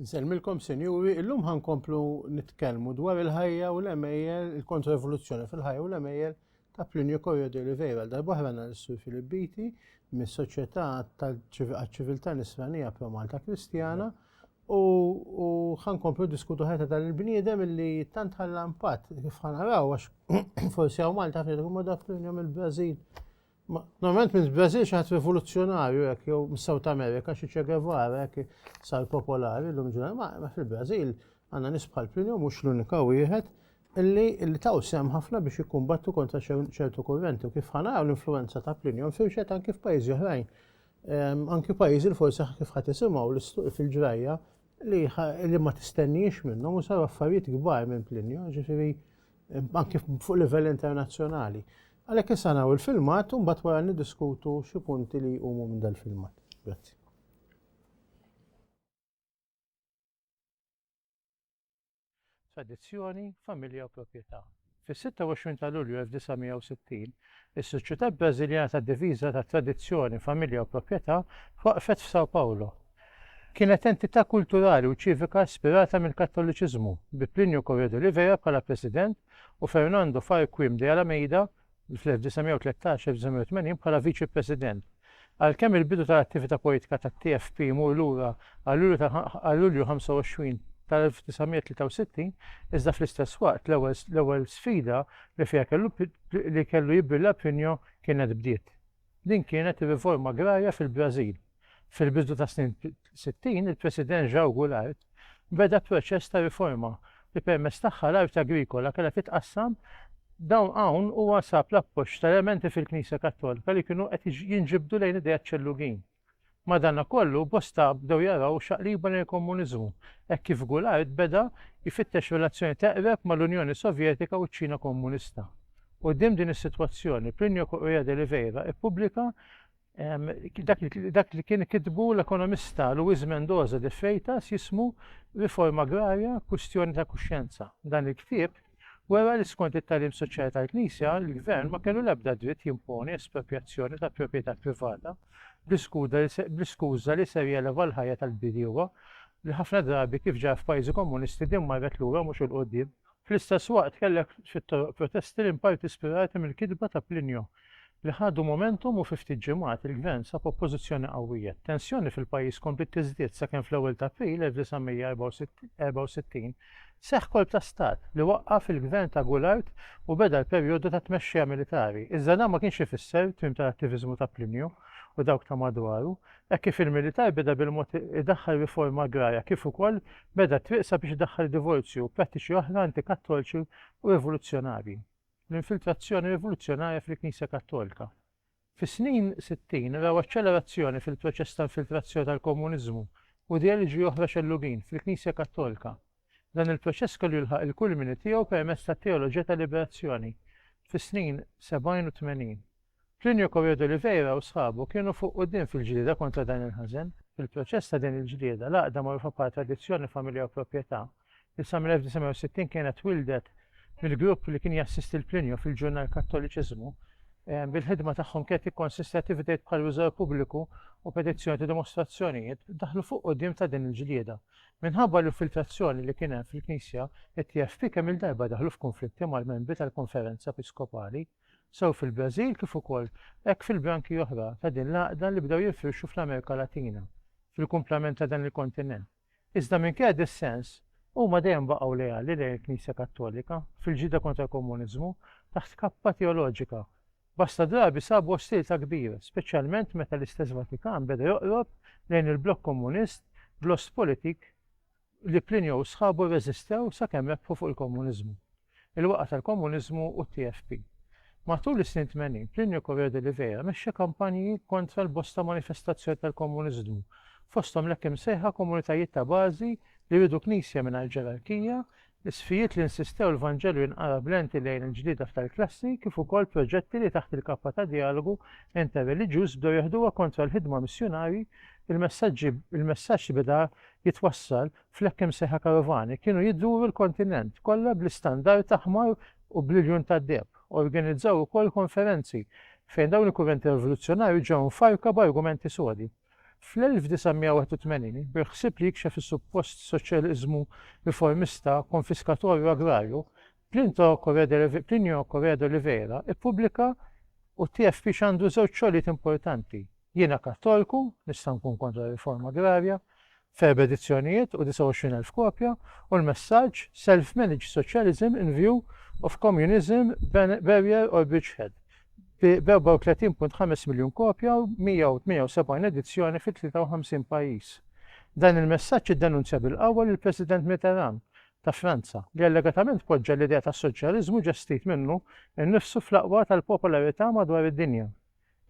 Nsellmilkom sinjuri, illum ħa nkomplu nitkellmu dwar il-ħajja u l-għemejjel, il-kontra-evoluzzjoni fil-ħajja u l-għemejjel ta' Plinio Corio de Oliveira. Għal darbohra għandna l-Sur Filip Biti mis-Soċjetà għaċ-Ċiviltà Nisranija Pro Malta Kristjana u ħa nkomplu diskutu ħajta dan il-bniedem illi tant ħalla impatt kif ħa naraw għax forsi hawn Malta ħafna jkun ma daf Plinio mill-Brażil Normalment minn Brażil xi ħadd rivoluzzjonarju hekk jew mis-South America xi Che Guevara hekk sar popolari llum ġurnal. Ma fil-Brażil għandna nies bħal Pinjo mhux l-unika wieħed illi illi taw sem ħafna biex jikkumbattu kontra ċertu kurrenti u kif ħanaw l-influenza ta' Plinjon firxet anki f'pajjiżi oħrajn. Ehm, anki pajjiżi li forsi kif ħadd isimgħu l-istuq fil-ġrajja li ma tistenniex minnhom u saru affarijiet kbar minn Plinjon, ġifieri anke fuq livell internazzjonali. Għalhekk issa naraw il-filmat u mbagħad wara niddiskutu xi punti li jqumu minn dal-filmat. Grazzi. Tradizzjoni, familja u proprjetà. Fis-26 ta' Lulju 1960, Is-Soċjetà Brażiljana tad-Diviża ta' Tradizzjoni, Familja u Proprjetà twaqqfet f'São Paulo. Kienet entità kulturali u ċivika ispirata mill-Kattoliċiżmu, bi Plínio Corrêa de Oliveira bħala president u Fernando Farquim de Alameida, fl-1913-1980, bħala viċi-president. Għalkemm il-bidu tal-attività politika tat-TFP jmur lura għal Lulju ta' għal Lulju 25 tal-1963, iżda fl-istess waqt l-ewwel l-ewwel sfida li fiha kellu li kellu jibilla Pinho kienet bdiet. Din kienet ir-riforma agrarja fil-Brażil fil-bidu tas-snin 60 il-President João Goulart beda proċess ta' riforma li permezz tagħha l-art agrikola kellha titqassam dawn hawn huwa sab l-appoġġ tal-elementi fil-Knisja Kattolika li kienu qed jinġibdu lejn ideat ċellugin. Madankollu, bosta bdew jaraw xaqliba lejn il-Komuniżmu, hekk kif Goulart beda jfittex relazzjoni teqreb mal-Unjoni Sovjetika u ċ-Ċina Komunista. Quddiem din is-sitwazzjoni, Plinio Correia de Oliveira ppubblika Dak li kien kitbu l-ekonomista Luis Mendoza de Freitas jismu Riforma Agrarja, Kwistjoni ta' Kuxjenza. Dan il-ktieb wera li skont it-tagħlim soċjali tal-Knisja, il-gvern ma kellu l-ebda dritt jimponi esproprjazzjoni ta' proprjetà privata bl-iskuża li ser jeleva l-ħajja tal-bdiewa, li ħafna drabi kif ġara f'pajjiżi komunisti din marret lura mhux 'il quddiem. Fl-istess waqt kellek xi toroq protesti li inparti spirati mill-kitba ta' Plinio, li ħadu momentum u fi ftit ġimgħat il-gvern sab oppożizzjoni qawwija. T-tensjoni fil-pajjiż kompliet tiżdied sakemm fl-ewwel ta' April 1964 seħħ kolp ta' stat li waqqaf il-gvern ta' Goulart u beda l-perjodu ta' tmexxija militari. Iżda dan ma kienx ifisser tmiem tal-attiviżmu ta' Plinio u dawk ta' madwaru, Hekk kif il-militar beda bil-mod idaħħal riforma agrarja kif ukoll beda t-triq sabiex idaħħal divorzju u prattiċi oħra antikattolċi u rivoluzzjonarji. L-infiltrazzjoni rivoluzzjonarja fil-Knisja Kattolika. Fis-snin sittin raw aċċelerazzjoni fil-proċess ta' infiltrazzjoni tal-Komuniżmu u ideoloġiji oħra xellugin fil-Knisja Kattolika. Dan il-proċess kellu jilħaq il-kulmini tiegħu permezz tat-teoloġija tal-liberazzjoni fis-snin sebgħin u tmenin. Plinio Correa d'Oliveira u sħabu kienu fuq quddiem fil-ġlieda kontra dan il-ħażen. Fil-proċess ta' din il-ġlieda, l-għaqda magħrufa bħala tradizzjoni, familja u proprjetà, li sa mill-1960 kienet twieldet mill-grupp li kien jassisti lil Plinio fil-ġurnal Kattoliċiżmu, bil-ħidma tagħhom kienet tikkonsisti attivitajiet bħal riżor pubbliku u petizzjoni ta' dimostrazzjonijiet, daħlu fuq quddiem ta' din il-ġlieda. Minħabba l-infiltrazzjoni li kien hemm fil-Knisja, it-TFP kemm-il darba daħlu f'kunflitti mal-membri tal-Konferenza Episkopali, sew fil-Brażil kif ukoll hekk fil-branki oħra ta' din l-għaqda li bdew jinfirxu fl-Amerika Latina, fil-kumplament ta' dan il-kontinent. Iżda minkejja d-dissens, huma dejjem baqgħu leali lejn il-Knisja Kattolika, fil-ġlieda kontra l-komuniżmu, taħt kappa teoloġika, Bosta drabi sabu ostiltà kbira, speċjalment meta l-istess Vatikan beda joqrob lejn il-blokk Komunist bl-Ostpolitik li Plinio u sħabu rreżistew sakemm rebħu fuq il-Komuniżmu, il-waqgħa tal-Komuniżmu u t-TFP. Matul is-snin tmenin, Plinio Correa de Oliveira mexxa kampanji kontra l-bosta manifestazzjoni tal-Komuniżmu, fosthom l-hekk imsejħa komunitajiet ta' bażi li riedu knisja mingħajr ġerarkija Isfijiet li nsistew l-Vanġelu jinqara b'lenti lejn il-ġlieda f'tal-klassi kif ukoll proġetti li taħt il-kappa ta' Djalogu Interreliġjuż bdew jeħduha kontra l-ħidma missjunarji, il-messaġġi il-messaġġ li beda jitwassal fl-hekk imsejħa karovani kienu jduru l-kontinent kollha bl-istandard aħmar u bl-iljun tad-deheb. Organizzaw ukoll konferenzi fejn dawn il-kurrenti rivoluzzjonarji ġew mfarrka b'argumenti sodi. Fl-1981, bil-ħsieb li jikxef is-suppost soċjaliżmu riformista, konfiskatorju u agrarju, Plinto Correa de Plinio Correa de Oliveira ppubblika u t-TFP x'għandu żewġ xogħlijiet importanti, Jiena Kattolku, nista' nkun kontra riforma agrarja, f'erba' edizzjonijiet u 29,000 kopja, u l-messaġġ Self-managed socialism in view of communism barrier or bridgehead b' 34.5 miljun kopja u 178 edizzjoni fi 53 pajjiż. Dan il-messaġġ iddenunzja bil-qawwa lill-President Mitterrand ta' Franza, li allegatament poġġa l-idea tas-soċjaliżmu ġestit minnu nnifsu fl-aqwa tal-popolarità madwar id-dinja.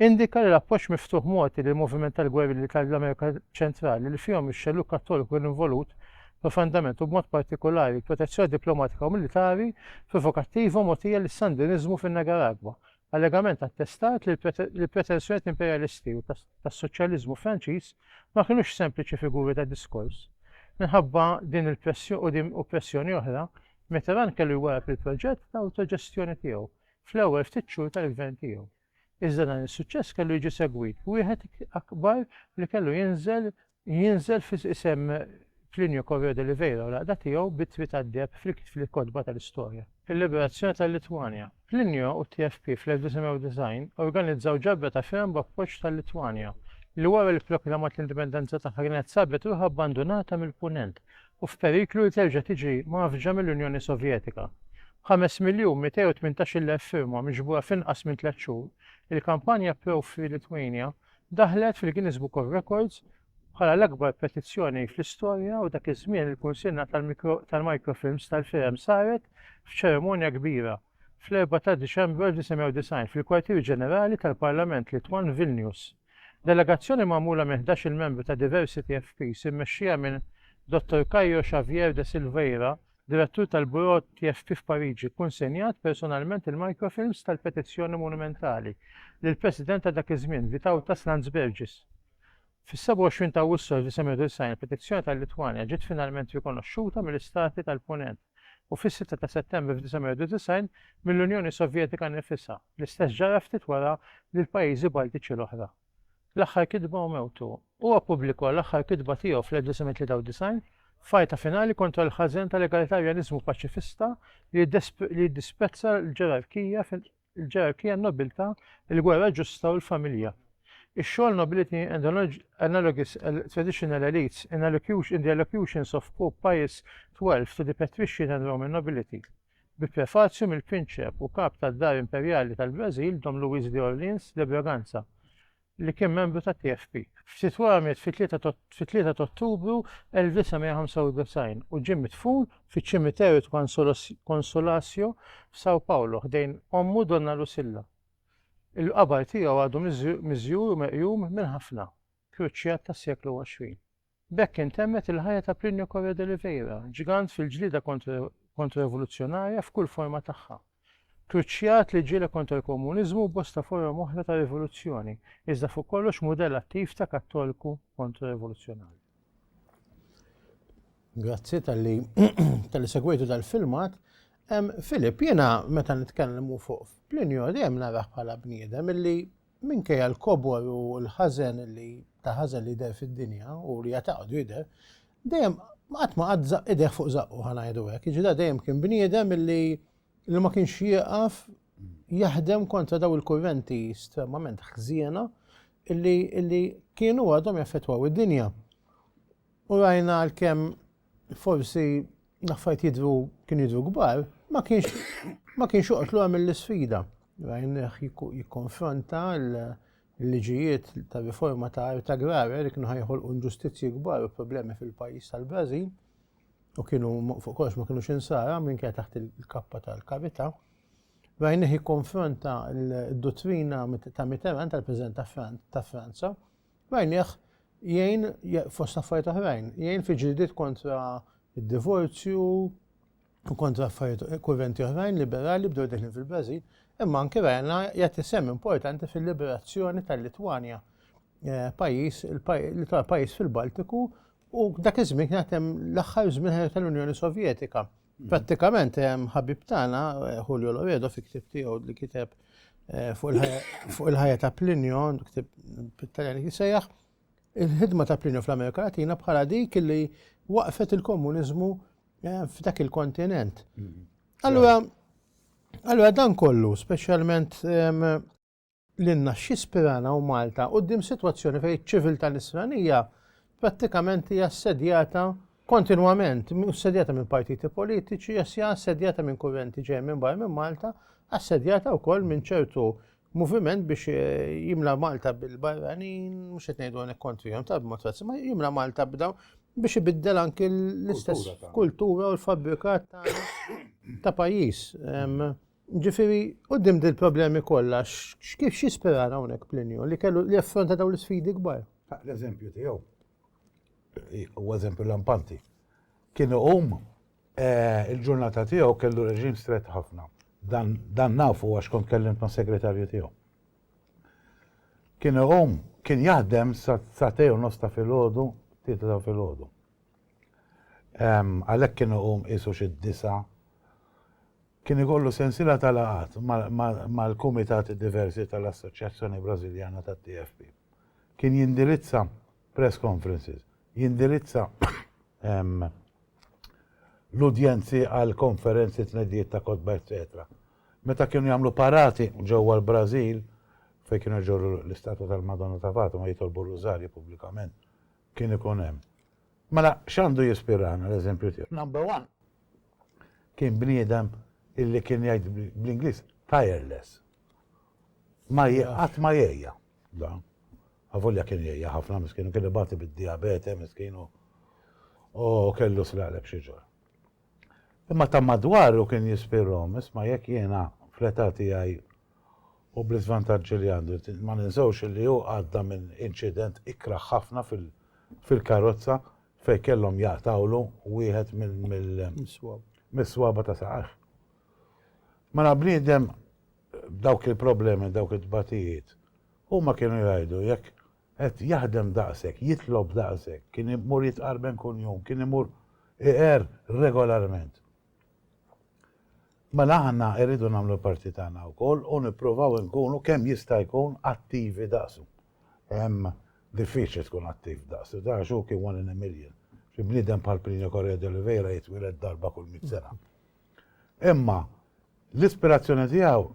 Indika li l-appoġġ miftuħ mogħti lill-moviment tal-gwerilli tal-Amerika Ċentrali, li fihom ix-xellug Kattoliku kien involut profondament u b'mod partikulari l-protezzjoni diplomatika u militari provokattiva mogħtija lis-Sandiniżmu fin-Nigaragwa, allegament attestat li l-pretensjonijiet imperjalisti u tas-soċjaliżmu Franċiż ma kinux sempliċi figuri ta' diskors. Minħabba din il-pressjoni u pressjoni oħra, Mitterrand kellu jwarrab il-proġett ta' awtoġestjoni tiegħu, fl-ewwel ftit xhur tal-gvern tiegħu. Iżda dan is-suċċess kellu jiġi segwit b'wieħed akbar li kellu jinżel jinżel f'isem Plinio Correo de Oliveira u l-għaqda tiegħu bit-Twi tad-Deheb fil-kotba tal-istorja. Il-liberazzjoni tal-Litwanja. Plinio u t-TFP fl-1990 organizzaw ġabra ta' firem b'appoġġ tal-Litwanja, li wara li pproklamat l-indipendenza tagħha kienet sabet ruħha abbandunata mill-Punent, u f'periklu li terġa' tiġi mgħaffġa mill-Unjoni Sovjetika. B'ħames miljun mitej u tmintax-il elf firma miġbura f'inqas minn tliet xhur, il-kampanja ProFreeLithuania daħlet fil-Guinness Book of Records bħala l-akbar petizzjoni fl-istorja u dak iż-żmien il-kunsinna tal-mikrofilms tal-firem saret f'ċerimonja kbira fl-4 ta' Diċembru 1990 fil-Kwartier Ġenerali tal-Parlament Litwan Vilnius. Delegazzjoni magħmula minn ħdax-il membru ta' Diversity FPs immexxija minn Dottor Caio Xavier de Silveira, Direttur tal-Buro TFP f'Pariġi, kunsenjat personalment il-microfilms tal-petizzjoni monumentali lill-President ta' dak iż-żmien, Vytautas Landsbergis. Fis-27 ta' Awwissu 1990 il-petizzjoni tal-Litwanja ġiet finalment rikonoxxuta mill-Istati tal-Punent. u fis-sitta ta' Settembru 1991 mill-Unjoni Sovjetika nnifisha, l-istess ġara ftit wara lill-pajjiżi Baltiċi l-oħra. L-Aħħar Kitba u Mewtu. Huwa ppubblikwa l-aħħar kitba tiegħu fl-1993, f'għajta finali kontra l-ħażen tal-egalitarjaniżmu paċifista li jiddisprezza l-ġerarkija il-ġerarkija, n-nobiltà, il-gwerra ġusta u l-familja. Ix-xogħol Nobility and Analogous Traditional Elites in Allocution in the Allocutions of Pope Pius XII to the Patrician and Roman Nobility, bi prefazju mill-Prinċep u Kap tad-Dar Imperjali tal-Brażil Dom Luiz de Orleans de Bragança, li kien membru tat-TFP. Ftit wara miet fit-3 t'Ottubru 1995 u ġie midfun fiċ-Ċimiterju t'Consolacio f'São Paulo ħdejn ommu Donna Lucilla. Il-qabar tiegħu għadu miżjur u meqjum minn ħafna kruċjat tas-seklu 20. B'hekk intemmet il-ħajja ta' Plinio Correa de Oliveira, ġgant fil-ġlieda kontra-rivoluzzjonarja f'kull forma tagħha. Kruċjat li ġieled kontra l-komuniżmu u bosta forom oħra ta' rivoluzzjoni, iżda fuq kollox mudell attiv ta' Kattolku kontra-rivoluzzjonarju. Grazzi talli talli segwejtu dal-filmat. Filip, jiena meta nitkellmu fuq Plinio dejjem narah bħala bniedem illi Minkejja l-kobor u l-ħażen li ta' ħażen li jidher fid-dinja u li għad għadu jidher, dejjem qatt ma qatt żaqq idejh fuq żaqqu ħa ngħidu hekk. Jiġifieri da dejjem kien bniedem li li ma kienx jieqaf jaħdem kontra daw il-kurrenti estremament ħżiena illi kienu għadhom jaffettwaw id-dinja. u rajna għalkemm forsi l-affarijiet jidhru kienu jidhru kbar, ma kienx ma kienx joqgħod lura mill-isfida. Rajnieh jikkonfronta l-liġijiet ta' riforma ta' art agrarja li kienu ħajħolqu inġustizzji kbar u problemi fil-pajjiż tal-Brażil u kienu fuq kollox ma kienux insara minn kien taħt il-kappa tal-karità. Rajnieh jikkonfronta l-dottrina ta' Mitterrand tal-President ta' Franza Rajnieh jgħin, fost affarijiet oħrajn, jgħin fi ġlidiet kontra d-divorzju u kontra affarijiet kurrenti oħrajn liberali bdew deħlin fil-Brażil, imma anke rajna jagħti sehem importanti fil-liberazzjoni tal-Litwanja, eh, pajjiż li tar pajjiż fil-Baltiku u dak iż-żmien kien hemm l-aħħar żmien tal-Unjoni Sovjetika. Prattikament, ħabib tagħna Julio Lovedo fi ktib tiegħu li kiteb eh, fuq il-ħajja ta' Plinio, ktib pit-Taljan jisejjaħ, il-ħidma ta' Plinio fl-Amerika Latina bħala dik li waqfet il-komuniżmu eh, f'dak il-kontinent. Mm-hmm. Allura, allura dan kollu, speċjalment lilna x'jispirana u Malta quddiem sitwazzjoni fejn iċ-ċiviltà Nisranija prattikament hija assedjata kontinwament, assedjata minn partiti politiċi, hija assedjata minn kurrenti ġej minn barra minn Malta, assedjata wkoll minn ċertu moviment biex eh, jimla Malta bil-barranin, mux etnejdu għanek kontrijon ta' b'mod ma jimla Malta b'daw biex ibiddel anki l-istess kultura u l-fabrikat ta' pajis. Ġifieri, quddiem dil-problemi kollha, kif x'jisperar hawnhekk Plinju li kellu li jaffronta dawn l-isfidi kbar? L-eżempju tiegħu huwa eżempju lampanti. Kien iqum eh, il-ġurnata tiegħu kellu reġim strett ħafna. Dan nafu għax kont kellimt ma' segretarju tiegħu. Kien iqum, kien jaħdem sa tew nos ta' filgħodu, tlieta ta' filgħodu. Għalhekk kien iqum qisu xi disa' Kien ikollu sensiela ta' laqgħat mal-kumitati diversi tal-Assoċjazzjoni Brażiljana tat-TFP. Kien jindirizza press conferences, jindirizza l-udjenzi għal konferenzi, tneddijiet ta' kotba eċċetera. Meta kienu jagħmlu parati ġewwa l-Brażil, fejn kienu jġorru l-istatwa tal-Madonna ta' Fatima u jitolbu r-Rużarju pubblikament, kien ikun hemm. Mela x'għandu jispirana l-eżempju tiegħu? Number one, kien bniedem illi kien jgħid bl-Ingliż tireless. Ma qatt ma jgħejja. Avolja kien jgħejja ħafna miskinu kien ibati bid-diabete miskinu u kellu slalek xi ġor. Imma ta' madwaru kien jispirhom, isma' jekk jiena fl-età tiegħi u bl-iżvantaġġi li għandu, ma ninsewx li hu għadda minn inċident ikrah ħafna fil-karozza fejn kellhom jaqtgħulu wieħed mis-swaba ta' saqajh. Mela bniedem b'dawk il-problemi, dawk it-tbatijiet, huma kienu jgħidu jekk qed jaħdem daqshekk, jitlob daqshekk, kien imur jitqarben kull jum, kien imur iqer regolarment. Mela aħna rridu nagħmlu l-parti tagħna wkoll u nippruvaw inkunu kemm jista' jkun attivi daqsu. hemm diffiċli tkun attiv daqs li dan x'hu kien one in a million. Xi bniedem bħal Plinio Correa de Oliveira jitwieled darba kull mitt sena. Imma l-ispirazzjoni tiegħu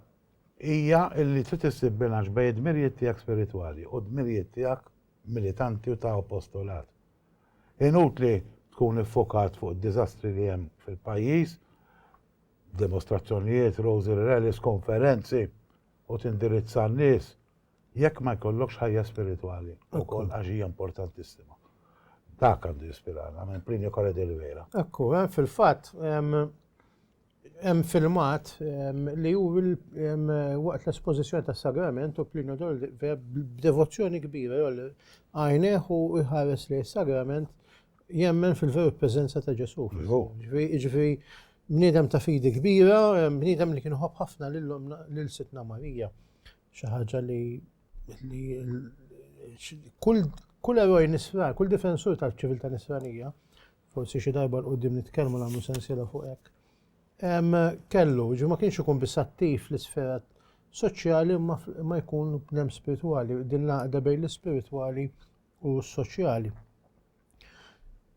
hija li trid issib bilanċ bejn id-dmirijiet tiegħek spiritwali u d-dmirijiet tiegħek militanti u ta' apostolat. Inutli tkun iffokat fuq id-diżastri li hemm fil-pajjiż, demostrazzjonijiet, rosary rallies, konferenzi u tindirizza n-nies Jekk ma jkollokx ħajja spiritwali wkoll għax hija importantissima. Dak għandu jispirana minn Plinio Corre de Oliveira. Ekku, eh, fil-fatt hemm filmat li hu waqt l-espożizzjoni tas-sagrament u Plinio de Oliveira b'devozzjoni kbira għajneħ u jħares li s-sagrament jemmen fil-veru preżenza ta' Ġesu. Ġifieri bniedem ta' fidi kbira, bniedem li kien ħobb ħafna lil Sidna Marija. Xi ħaġa li kull eroj nisran, kull difensur tal-ċiviltà nisranija, forsi xi darba l-qudiem nitkellmu nagħmlu sensiela fuq hekk. Kellu, ġi ma kienx ikun biss attiv fl-isfera soċjali ma jkun bnem spiritwali, din l-għaqda bejn l-ispiritwali u s-soċjali.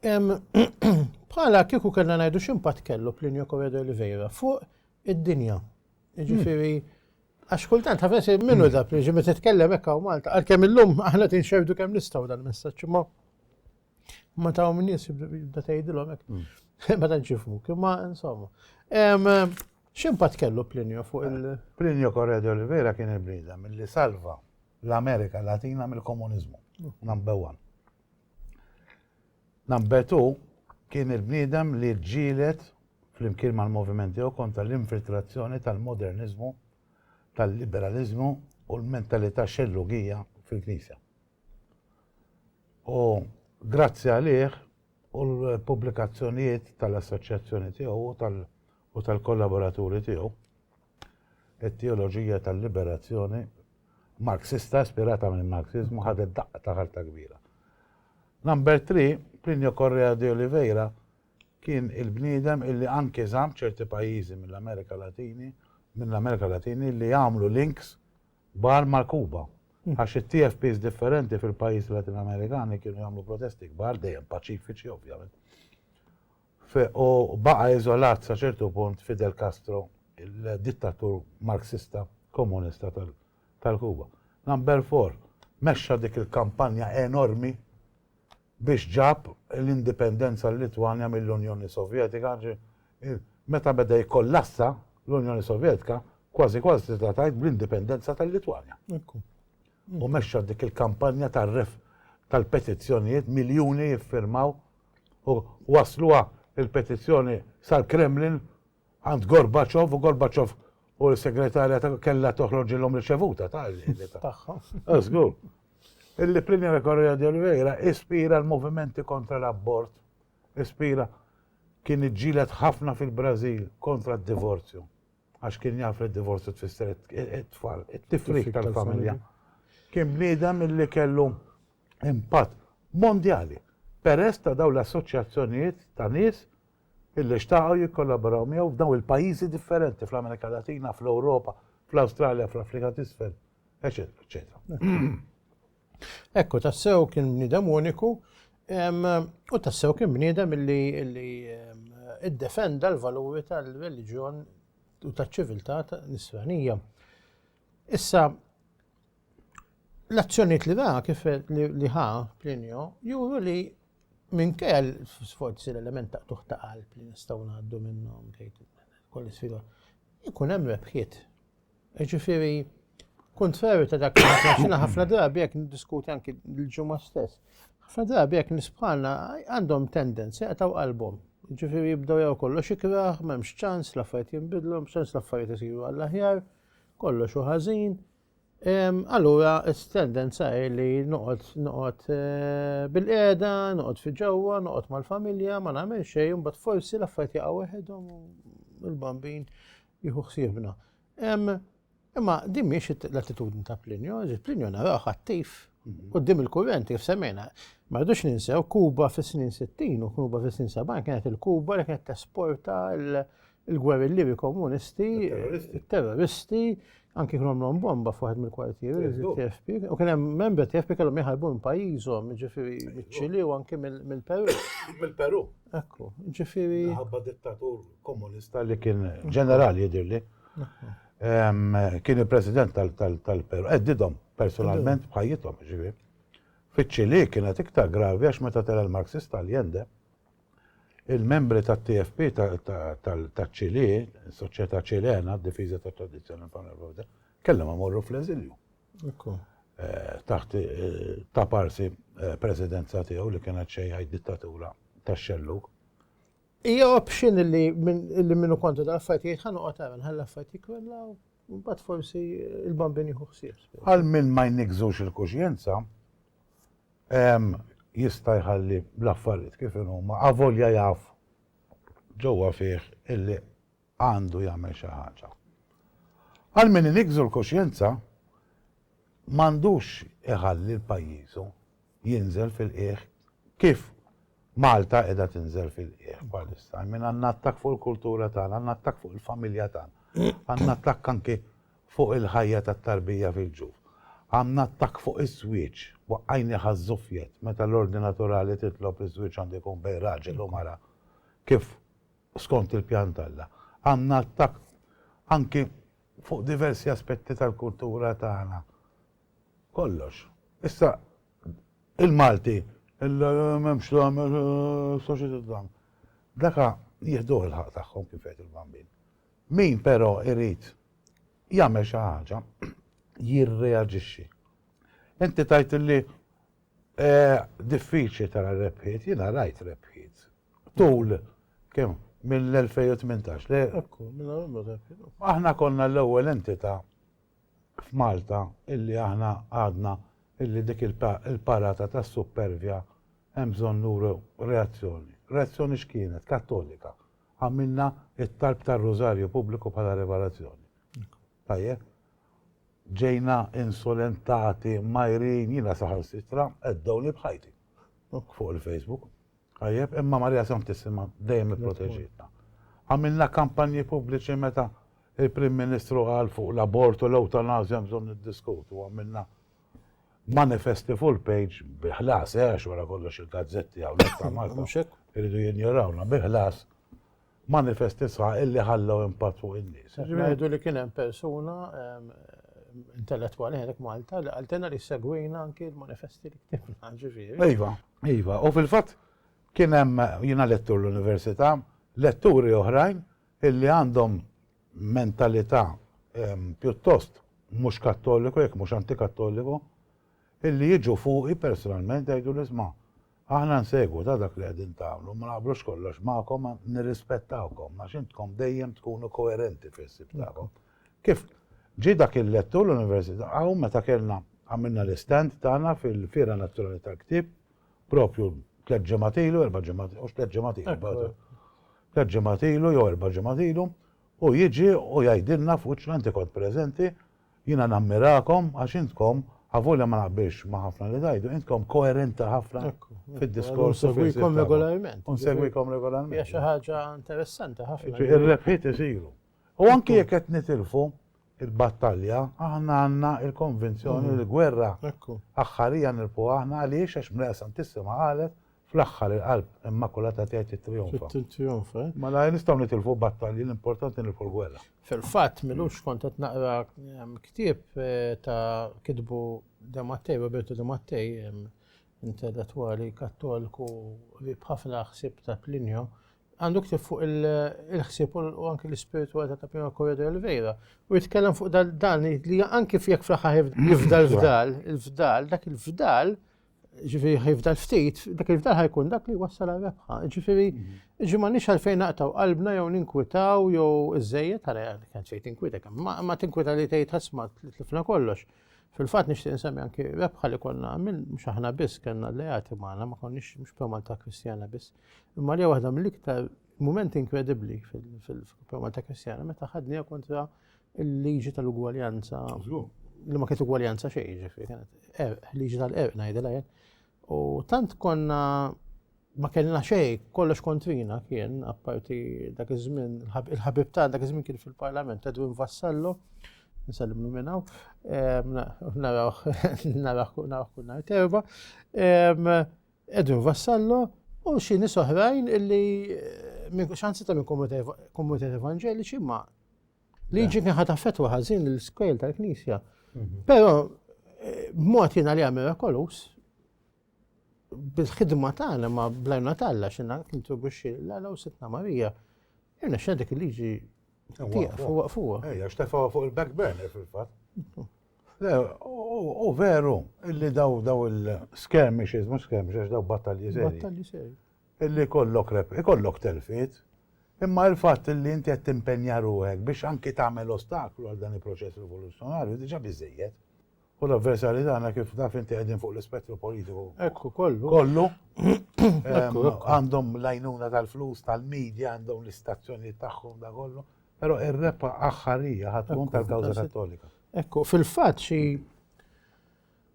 Bħala kieku kellna ngħidu x'impatt kellu Plinio Correa de Oliveira fuq id-dinja. Ġifieri, għax kultant ħafes minnu da Plinio meta titkellem hekk hawn Malta, għalkemm illum aħna tinxerdu kemm nistgħu dal-messaġġ ma ma taw minn nies jibda tgħidilhom hekk. Hmm. Ma tantx jifhmu, imma insomma. X'impatt kellu Plinio fuq il- eh, Plinio Correa de Oliveira kien il-brida mill-li salva l-Amerika Latina mill-komuniżmu. Hmm. Number one. Nambetu kien il-bniedem li ġġieled flimkien mal-moviment tiegħu kontra l-infiltrazzjoni tal-moderniżmu, tal-liberaliżmu u l-mentalità xellugija fil-Knisja. U grazzi għalih u l-pubblikazzjonijiet tal-assoċjazzjoni tiegħu u u tal-kollaboraturi tiegħu, it-teoloġija tal-liberazzjoni Marxista ispirata mill-Marxiżmu ħadet daqqa ta' ħarta kbira. Number 3, Plinio Correa de Oliveira kien il-bniedem illi anke żamm ċerti pajjiżi mill-Amerika Latini, mill-Amerika Latini li jagħmlu links bar ma' Kuba. Hmm. Għax it-TFPs differenti fil-pajjiżi Latin Amerikani kienu jagħmlu protesti kbar dejjem paċifiċi ovvjament. u baqa' iżolat sa ċertu punt Fidel Castro, il-dittatur Marxista Komunista tal-Kuba. Number Four mexxa dik il-kampanja enormi biex ġab l-indipendenza l-Litwanja mill-Unjoni Sovjetika, meta beda jikkollassa l-Unjoni Sovjetka, kważi kważi tista' tgħid bl-indipendenza tal-Litwanja. U mexxa dik il-kampanja tal-petizzjonijiet, miljuni jiffirmaw u wassluha l-petizzjoni sal-Kremlin għand Gorbaċov u Gorbaċov u l-segretarja ta' kellha toħroġilhom riċevuta ta' tagħha. Ah, żgur. Il-Plinja Correa de Oliveira ispira l-movimenti kontra l-abort, ispira kien iġġilet ħafna fil-Brażil kontra d-divorzju. Għax kien jaf li d-divorzju tfisser it-tfal, it-tifrik tal-familja. Kien bniedem li kellu impatt mondjali peress ta' dawn l-assoċjazzjonijiet ta' nies illi xtaqgħu jikkollaboraw miegħu f'dawn il-pajjiżi differenti fl-Amerika Latina, fl-Ewropa, fl-Awstralja, fl-Afrika t'Isfel, eċetera, eċetera. Ekku, tassew kien bniedem uniku u tassew kien bniedem illi iddefenda l-valuri tal-reliġjon u taċ-ċiviltà nisranija. Issa, L-azzjonijiet li ra kif li ħa Plinio juru li minkejja l-sforzi l-element ta' tuħ ta' qalb li nistgħu ngħaddu minnhom kolli sfida, ikun hemm rebħiet. Ġifieri, kontrarju ta' dak li ħafna drabi jekk niddiskuti anki l-ġimgħa stess. Ħafna drabi jekk nisbħalna għandhom tendenza jaqtaw qalbhom. Ġifieri jibdew jew kollox ikraħ, m'hemmx ċans l-affarijiet jinbidlu, m'hemmx ċans l-affarijiet isiru għall-aħjar. kollox hu ħażin, allura s-tendenza hi li noqgħod noqgħod eh, bil-qiegħda, noqgħod fi ġewwa, noqgħod mal-familja, ma nagħmel xejn, imbagħad forsi l-affarijiet jaqgħu weħedhom il-bambin jieħu ħsiebna. Imma din mhix l-attitudni ta' Plinio, Plinio naraw attiv mhm. qudiem il-kurrenti kif semmejna. Ma rridux ninsew Kuba fis-snin 60 u Kuba fis-snin 70 kienet il-Kuba li kienet tesporta l- il-gwerillieri komunisti, terroristi, anki kienu għamlhom bomba fuħed mill-kwartieri, TFP, u kien hemm membri TFP kellhom jħarbu minn pajjiżhom, ġifieri miċ-Ċili u anki mill-Peru. Mill-Peru. Ekku, ġifieri. Ħabba dittatur komunista li kien ġenerali jidirli. Kien il-president tal-Peru, eddidhom eh, personalment bħajjithom, ġifieri. Fiċ-Ċili kienet iktar gravi għax meta tela l-Marxist tal-Jende, Il-membri tat-TFP taċ-Ċilì, is-Soċjetà Ċilena għad-Difiża tat-Tradizzjoni Panevropea, kellhom imorru fl-eżilju. Eh, taħt eh, ta' parsi eh, presidenza tiegħu li kienet xejħaj dittatura ta' xelluk. Ija option li minnu kontu da' affajti jħan uqqa ta' għan affajti kwella u bat forsi il-bambin jħuħsir. Għal minn ma jnikżux il-kuxjenza, jista' jħalli l-affarijiet kif inhuma avolja jaf ġewwa fih illi għandu jagħmel xi ħaġa. Għal min iniggżu l-kuxjenza m'għandux iħalli l-pajjiżu jinżel fil-qiegħ kif Malta qiegħda tinżel fil-qiegħ bħalissa. I mean għandna attakk fuq il-kultura tagħna, għandna attakk fuq il-familja tagħna, għandna attakk anki fuq il-ħajja tat-tarbija fil-ġuf. Għamlna attakk fuq iż-żwieġ, waqqajnieh għaż-żufjet, meta l-ordni naturali titlob li ż-żwieġ għandu jkun bejn raġel u mara kif skont il-pjan t'Alla. Għamlna attakk anki fuq diversi aspetti tal-kultura tagħna. Kollox. Issa, il-Malti, m'hemmx dam, is-soċjetà dam. Daka jieħduh il-ħaqq tagħhom kif jgħid il-bambin. Min però irid jagħmel xi ħaġa jirreaġixxi. Inti tgħid li diffiċli tara rebħiet, jiena rajt rebħiet tul kemm mill-2018 le aħna konna l-ewwel entità f'Malta illi aħna għadna illi dik il-parata tas-suppervja hemm bżonn nuru reazzjoni. Reazzjoni x'kienet? Kattolika. għamilna t-talb tar-Rużarju pubbliku bħala rivelazzjoni. Tajjeb? Ġejna insulentati, mgħajrin, jiena saħansitra għeddewni b'ħajti fuq il-Facebook. Tajjeb, imma Marija Santissima dejjem ipproteġitna. Għamilna kampanji pubbliċi meta il-Prim Ministru qal fuq l-abort u l-ewtanazja bżonn niddiskutu, għamilna Manifesti full page bi ħlas, eh, għax wara kollox il-gazzetti hawnhekk ta' Malta. Mhux hekk? Iridu jinjorawna bi ħlas. Manifesti sħaħ illi ħallew impatt fuq in-nies. Qed ngħidu li kien hemm persuna intellettwali hawnhekk Malta li qaltilna li segwina anki l-manifesti li ktibna, ġifieri. Iva, iva. U fil-fatt kien hemm jiena lettur l-università, letturi oħrajn illi għandhom mentalità pjuttost mhux kattoliku, jekk mhux antikattoliku, illi jiġu fuqi personalment jgħiduli sma' aħna nsegwu ta' dak li qegħdin tagħmlu, ma naqblux kollox magħkom ma nirrispettawkom għax intkom dejjem tkunu koerenti fil-ħsieb tagħkom. Kif ġie dak il-lettur l-Università hawn meta kellna għamilna l-istand tagħna fil-Fiera Nazzjonali tal-Ktieb Propju tliet ġimgħat ilu, erba' ġimgħat, u tliet ġimgħat ilu. Tliet ġimgħat ilu jew erba' ġimgħat ilu, u jiġi u jgħidilna f'wiċċna inti kont preżenti, jiena nammirakom għax intkom Avolja ma naqbilx ma' ħafna li tajdu, intkom koerenti ħafna fid-diskors. Unsegwikom regolarment. Unsegwikom regolarment. Hija xi ħaġa interessanti ħafna. Ir-rebħiet isiru. U anki jekk qed nitilfu, il-battalja, aħna għandna l-konvinzjoni li l-gwerra aħħarija nirpuha aħna għaliex għax Mrejja Santissima qalet, fl-aħħar il-Qalb Immakulata tiegħi tittrijonfa. Tittrijonfa, eh? Mela nistgħu nitilfu battalji, l-importanti nirpu l-gwerra. Fil-fatt, milux kont qed naqra ehm, ktieb eh, ta' kitbu De Mattei, Roberto De Mattei, ehm, intellettwali kattolku li bħafna ħsib ta' Plinio, għandu ktib fuq il-ħsieb u anki l-ispiritualità ta' Pino Correa de Oliveira u jitkellem fuq dan li anki fjek fl-aħħar jifda l-fdal, il-fdal, dak il-fdal, ġifiri jifdal ftit, dak il-fdal ħajkun dak li wassal għal-rebħa. Ġifiri, ġi ma nix għalfejn naqtaw qalbna jew ninkwitaw jew iż-żejjed, għara għan xej tinkwita, ma tinkwita li tgħid ħasma tlifna kollox. Fil-fat nixtieq nsemmi anki rebħa li konna minn mhux aħna biss kellna l-leati magħna ma konniex mhux promal ta' Kristjana biss Imma li waħda mill-iktar mument inkredibbli fil-Malta Kristjana meta ħadniha kontra il-liġi tal-ugwaljanza li ma kienet ugwaljanza xejn, ġifi, kienet er, liġi tal-erq ngħidilha jien. U tant konna ma kellna xejn, kollox kontrina kien, apparti dak iż-żmien, il-ħabib ta' dak iż-żmien kien fil-Parlament, Edwin Vassallo, nsallim minnaw, naraw kull nhar terba. Edwin Vassallo u xi nies oħrajn illi xansi ta' minn komunitajiet evanġeliċi ma liġi kien ħata fetwa ħażin l-iskejl tal-Knisja. Mhm. Però eh, b'mod jiena li għamil kolus bil-ħidma tagħna ma blajna talla xina kintribuxxi l-għala u sitna Marija. Irna xedik il-liġi tiegħek fuq fuq. Ejja, xtefaw fuq il-back burner fil-fatt. Le, hu veru illi daw daw il-skirmishes, mhux skirmishes, daw battalji seri. Battalji seri. Illi kollok rep, ikollok telfiet. Imma il-fatt illi inti qed timpenja ruħek biex anki tagħmel ostaklu għal dan il-proċess rivoluzzjonarju diġà biżejjed. U l-avversarji tagħna kif taf inti qegħdin fuq l-ispettru politiku. Ekku kollu. Kollu. Għandhom l-għajnuna tal-flus, tal-medja, għandhom l-istazzjonijiet tagħhom da kollu. Però ir-rebħa aħħarija ħad tkun tal-kawża Kattolika. Ekku, fil-fatt xi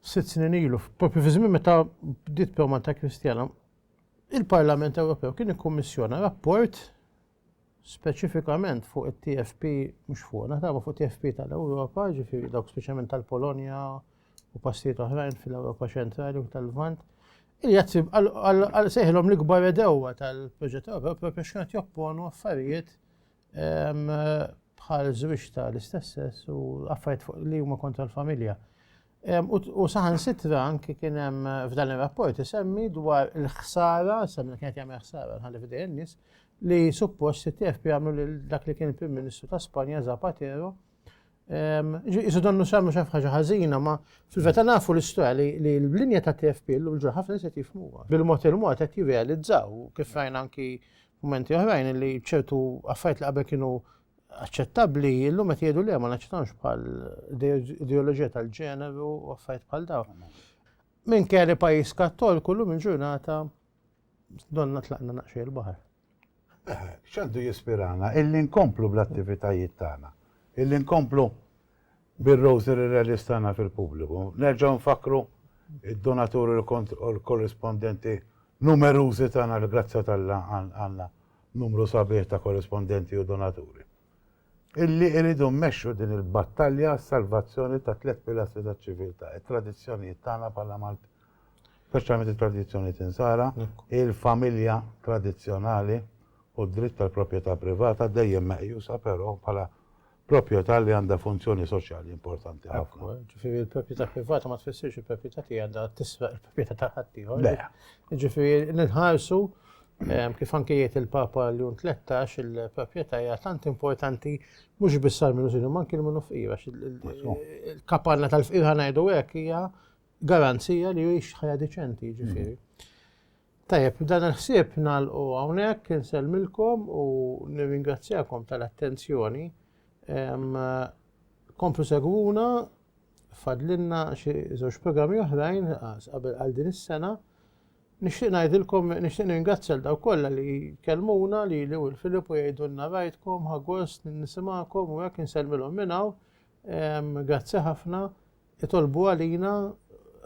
sitt snin ilu, propju fi żmien meta bdiet Malta Kristjana, il-Parlament Ewropew kien ikkummissjona rapport speċifikament fuq it-TFP mhux fuq, naħtaba fuq TFP tal-Ewropa, ġifieri dawk speċjalment tal-Polonja u pastijiet oħrajn fil-Ewropa ċentrali u tal-Lvant. Il-jazzib għal seħilhom l-ikbar edewa tal-proġett Ewropew propju x'kienet jopponu affarijiet bħal żwieġ ta' l-istess sess u affarijiet fuq li huma kontra l-familja. U saħan sitra anki kien hemm f'dan ir-rapport isemmi dwar il-ħsara, semmi kienet jagħmel ħsara ħalli f'dejn nies li suppost it-TFP għamlu lil dak li kien il-Prim Ministru ta' Spanja Zapatero. Isu donnu xamlu xaf ħaġa ħażina, ma fil-veta nafu l-istoria li l-linja ta' TFP l-lum ġurħafna se jifmuha. Bil-mod il-mod qed jirrealizzaw kif rajna anki Mumenti oħrajn li ċertu affarijiet li qabel kienu aċċettabbli, illum qed jgħidu li ma naċċettawx bħal ideoloġija tal-ġeneru u affarijiet bħal daw. Minn kelli pajjiż kattolku llum il-ġurnata donna tlaqna naqxie l-baħar. Eh, x'għandu jispirana illi nkomplu bl-attivitajiet tagħna, illi nkomplu Bir-Rosary Rallies tagħna fil-pubbliku, nerġgħu nfakkru d-donaturi u l-korrispondenti numerużi tagħna li grazzja t'Alla għandna numru sabiħ ta' korrispondenti u donaturi illi jridu mmexxu din il-battalja għas-salvazzjoni tat-tliet pilastri taċ-ċiviltà, it-tradizzjonijiet tagħna bħala Maltin, speċjalment it-tradizzjonijiet Insara, il-familja tradizzjonali u d-dritt tal-proprjetà privata dejjem meqjusa però bħala proprjetà li għandha funzjoni soċjali importanti ħafna. Ġifieri l-proprjetà privata ma tfissirx il-proprjetà tiegħi għandha tisraq il-proprjetà ta' ħaddieħor. Ġifieri nħarsu ehm, kif anke jgħid il-Papa Leon 13 il-proprjetà hija tant importanti mhux biss għal minnu sinu manki minnu fqira. Il-kapanna tal-fqira ngħidu hekk hija garanzija li jgħix ħajja deċenti ġifieri. Tajjeb, b'dan il-ħsieb nagħlqu hawnhekk, insellmilkom u nirringrazzjakom tal-attenzjoni. Komplu segwuna, fadlilna xi żewġ programmi oħrajn qabel għal din is-sena. Nixtieq ngħidilkom, nixtieq ningrazzja l daw kollha li kellmuna li li u l-Filip u jgħidulna rajtkom, ħagost, nisimgħakom u hekk insellmilhom minn hawn. Grazzi ħafna. Itolbu għalina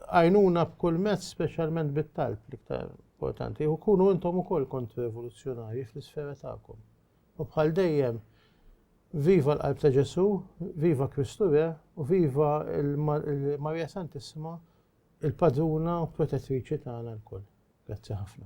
għajnuna b'kull mezz speċjalment bit-talb l-iktar importanti u kunu intom ukoll kont revoluzzjonarji fl-isfera tagħkom. U bħal dejjem viva l-qalb ta' Ġesu, viva Kristu Re u viva l-Marija Santissima il-padruna u protettriċi tagħna lkoll. Grazzi ħafna.